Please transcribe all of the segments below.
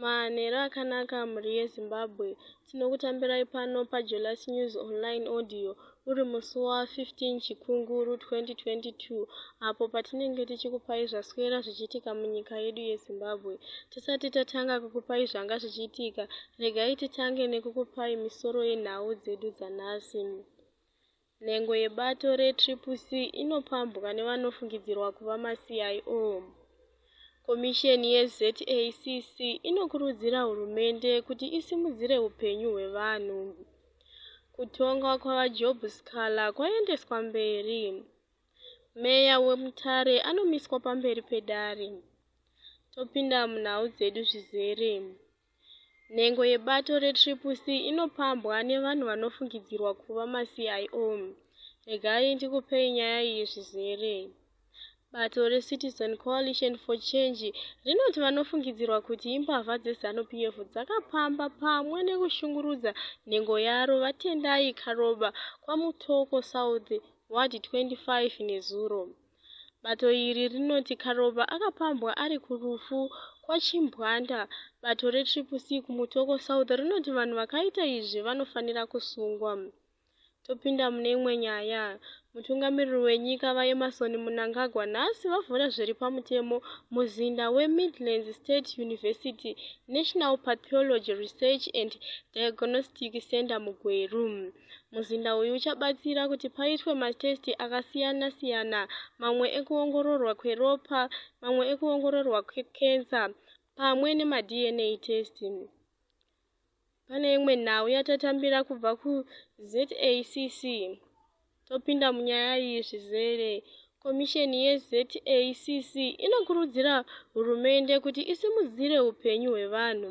Manheru akanaka mhuri yeZimbabwe. Tinokutambirai pano paJolas News Online Audio uri musi wa15 Chikunguru 2022 apo patinenge tichikupai zvaswera zvichiitika munyika yedu yeZimbabwe. Tisati tatanga kukupai zvanga zvichiitika, regai titange nekukupai misoro yenhau dzedu dzanhasi. Nhengo yebato reTriple C inopambwa nevanofungidzirwa kuva maCIO. Komisheni yeZACC inokurudzira hurumende kuti isimudzire upenyu hwevanhu. Kutongwa kwaVaJob Sikhala kwaendeswa mberi. Meya weMutare anomiswa pamberi pedare. Topinda munhau dzedu zvizere. Nhengo yebato reTriple C inopambwa nevanhu vanofungidzirwa kuva maCIO. Regai ndikupei nyaya iyi zvizere. Bato reCitizen Coalition for Change rinoti vanofungidzirwa kuti imbavha dzeZanu PF dzakapamba pamwe nekushungurudza nhengo yaro VaTendai Karoba kwaMutoko South, Ward 25 nezuro. Bato iri rinoti Karova akapambwa ari kurufu kwaChimbwanda. Bato reTriple C kuMutoko South rinoti vanhu vakaita izvi vanofanira kusungwa. Topinda mune imwe nyaya. Mutungamiriri wenyika VaEmmerson Mnangagwa nhasi vavhura zviri pamutemo muzinda weMidlands State University National Pathology Research and Diagnostic Centre muGweru. Muzinda uyu uchabatsira kuti paitwe matesiti akasiyana-siyana, mamwe ekuongororwa kweropa, mamwe ekuongororwa kwekensa pamwe nemaDNA test. Pane imwe nhau yatatambira kubva kuZACC topinda munyaya iyi zvizere. Komisheni yeZACC inokurudzira hurumende kuti isimudzire upenyu hwevanhu.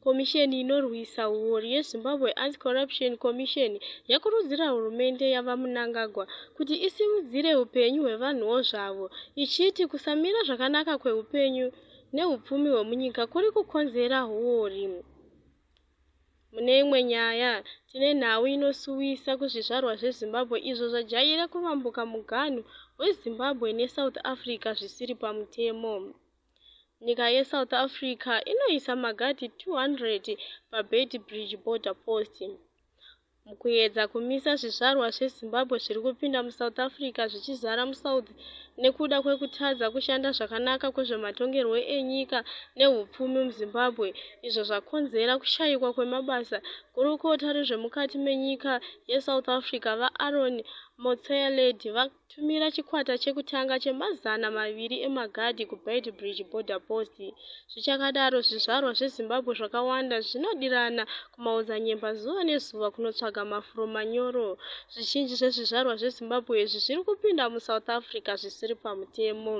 Komisheni inorwisa huori yeZimbabwe Anti-Corruption Commission yakurudzira hurumende yaVaMnangagwa kuti isimudzire upenyu hwevanhuwo zvavo, ichiti kusamira zvakanaka kweupenyu nehupfumi hwemunyika kuri kukonzera huori. Mune imwe nyaya, tine nhau inosuwisa kuzvizvarwa zveZimbabwe izvo zvajaira kuvambuka muganhu weZimbabwe neSouth Africa zvisiri pamutemo. Nyika yeSouth Africa inoisa magadhi 200 paBeitbridge Border Post. Mukuedza kumisa zvizvarwa zveZimbabwe zviri kupinda muSouth Africa zvichizara muSouth nekuda kwekutadza kushanda zvakanaka kwezvematongerwo enyika nehupfumi muZimbabwe izvo zvakonzera kushayikwa kwemabasa, gurukota rezvemukati menyika yeSouth Africa, VaAaron Motsoaledi, Tumira chikwata chekutanga chemazana maviri emagadhi kuBeitbridge Border Post. Zvichakadaro, zvizvarwa zveZimbabwe zvakawanda zvinodirana kumaodzanyemba zuva nezuva kunotsvaga mafuro manyoro. Zvizhinji zvezvizvarwa zveZimbabwe izvi zviri kupinda muSouth Africa zvisiri pamutemo.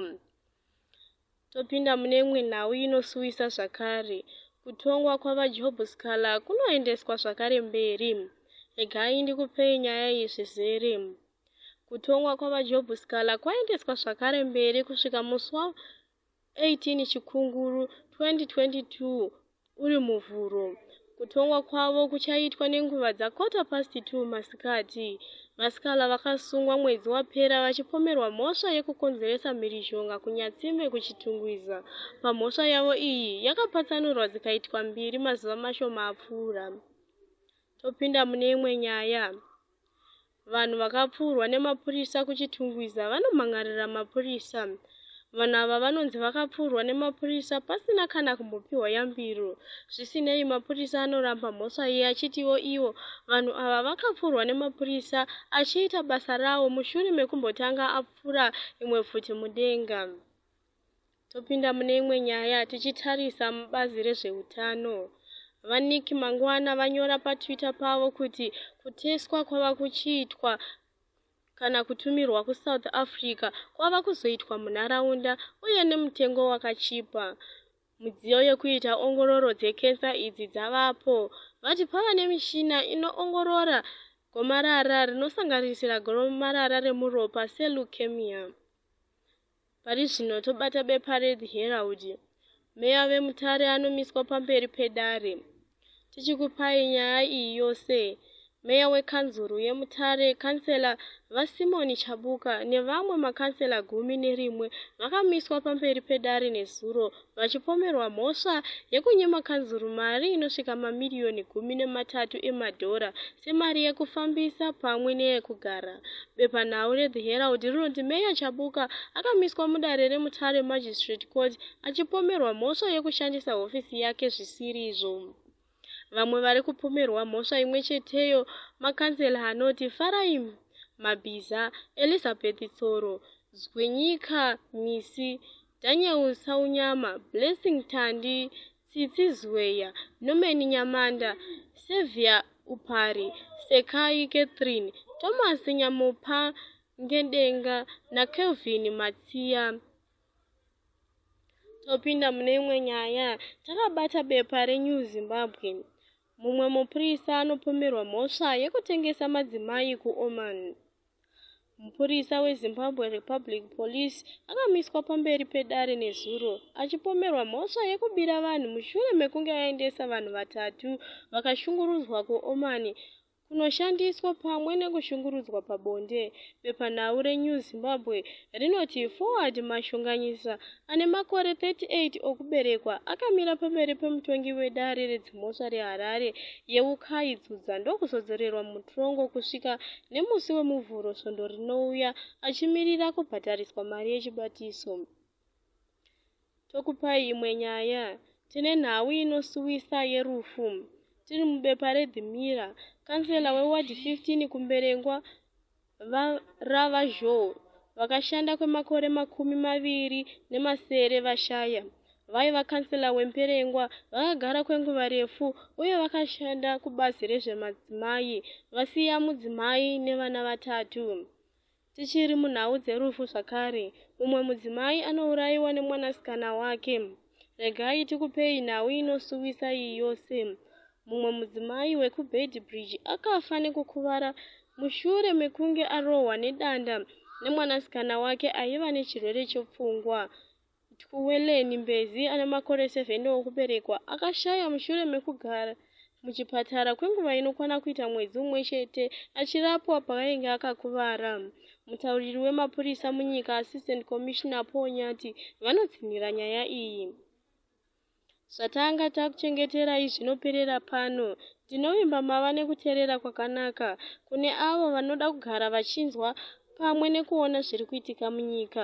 Topinda mune imwe nhau inosuwisa zvakare. Kutongwa kwaVaJob Sikhala kunoendeswa zvakare mberi. Regai ndikupei nyaya iyi zvizere. Kutongwa kwaVaJob Sikhala kwaendeswa zvakare mberi kusvika musi wa 18 Chikunguru 2022 uri Muvhuro. Kutongwa kwavo kuchaitwa nenguva dza quarter past 2 masikati. VaSikhala vakasungwa mwedzi wapera vachipomerwa mhosva yekukonzeresa mhirizhonga kuNyatsime kuChitungwiza. Pamhosva yavo iyi yakapatsanurwa dzikaitwa mbiri mazuva mashoma apfuura. Topinda mune imwe nyaya. Vanhu vakapfuurwa nemapurisa kuChitungwiza vanomhan'arira mapurisa. Vanhu ava vanonzi vakapfuurwa nemapurisa pasina kana kumbopiwa yambiro. Zvisinei, mapurisa anoramba mhosva iyi achitiwo iwo vanhu ava vakapfuurwa nemapurisa achiita basa rawo mushure mekumbotanga apfura imwe pfuti mudenga. Topinda mune imwe nyaya tichitarisa mubazi rezveutano. VaNick Mangwana vanyora paTwitter pavo kuti kuteswa kwava kuchiitwa kana kutumirwa kuSouth Africa kwava kuzoitwa munharaunda uye nemutengo wakachipa. Mudziyo yekuita ongororo dzekensa idzi dzavapo. Vati pava nemishina inoongorora gomarara rinosanganisira gomarara remuropa seleukemia. Pari zvino tobata bepa reThe Herald. Meya veMutare anomiswa pamberi pedare. Tichikupai nyaya iyi yose, meya wekanzuru yeMutare, Kansela VaSimon Chabuka nevamwe makansela gumi nerimwe vakamiswa pamberi pedare nezuro vachipomerwa mhosva yekunyima kanzuru mari inosvika mamiriyoni gumi nematatu emadhora semari yekufambisa pamwe neyekugara bepanhau rethe herald rinoti meya chabuka akamiswa mudare remutare magistrate court achipomerwa mhosva yekushandisa hofisi yake zvisirizvo Vamwe vari kupomerwa mhosva imwe cheteyo makanzela anoti Farai Mabhiza, Elizabeth Tsoro, Zwinyika Misi, Daniel Saunyama, Blessing Tandi, Tsitsi Zweya, Norman Nyamanda, Saviour Upari, Sekai Catherine, Thomas Nyamupa Ngedenga naKelvin Matsiya. topinda mune imwe nyaya takabata bepa renew zimbabwe mumwe mupurisa anopomerwa mhosva yekutengesa madzimai kuoman mupurisa wezimbabwe republic police akamiswa pamberi pedare nezuro achipomerwa mhosva yekubira vanhu mushure mekunge aendesa vanhu vatatu vakashungurudzwa kuoman kunoshandiswa pamwe nekushungurudzwa pabonde. Bepanhau reNew Zimbabwe rinoti Forward Mashonganyisa ane makore 38 okuberekwa akamira pamberi pemutongi wedare redzimhosva reHarare yeUkai Dzudza ndokuzodzorerwa mutorongo kusvika nemusi weMuvhuro svondo rinouya achimirira kubhadhariswa mari yechibatiso. Tokupai imwe nyaya. Tine nhau inosuwisa yerufu. Tiri mubepa reThe Mirror, kansela weward 15 kuMberengwa, VaRava Zhou, vakashanda kwemakore makumi maviri nemasere vashaya. Vaiva kansela weMperengwa, vakagara kwenguva refu uye vakashanda kubazi rezvemadzimai, vasiya mudzimai nevana vatatu. Tichiri munhau dzerufu zvakare, mumwe mudzimai anourayiwa nemwanasikana wake. Regai tikupei nhau inosuwisa iyi yose. Mumwe mudzimai wekuBeitbridge akafa nekukuvara mushure mekunge arohwa nedanda nemwanasikana wake aiva nechirwere chepfungwa. Tikuweleni Mbezi ane makore 7 okuberekwa akashaya mushure mekugara muchipatara kwenguva inokwana kuita mwedzi umwe chete achirapwa paainge akakuvara. Mutauriri wemapurisa munyika, Assistant Commissioner Paul Nyati, vanotsinhira nyaya iyi. Zvatanga takuchengeterai zvinoperera pano. Tinovimba mava nekuteerera kwakanaka kune avo vanoda kugara vachinzwa pamwe nekuona zviri kuitika munyika.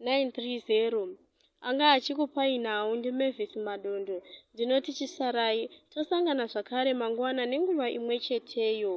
930 anga achikupai nhau ndimavis madondo ndinoti chisarai tosangana zvakare mangwana nenguva imwe cheteyo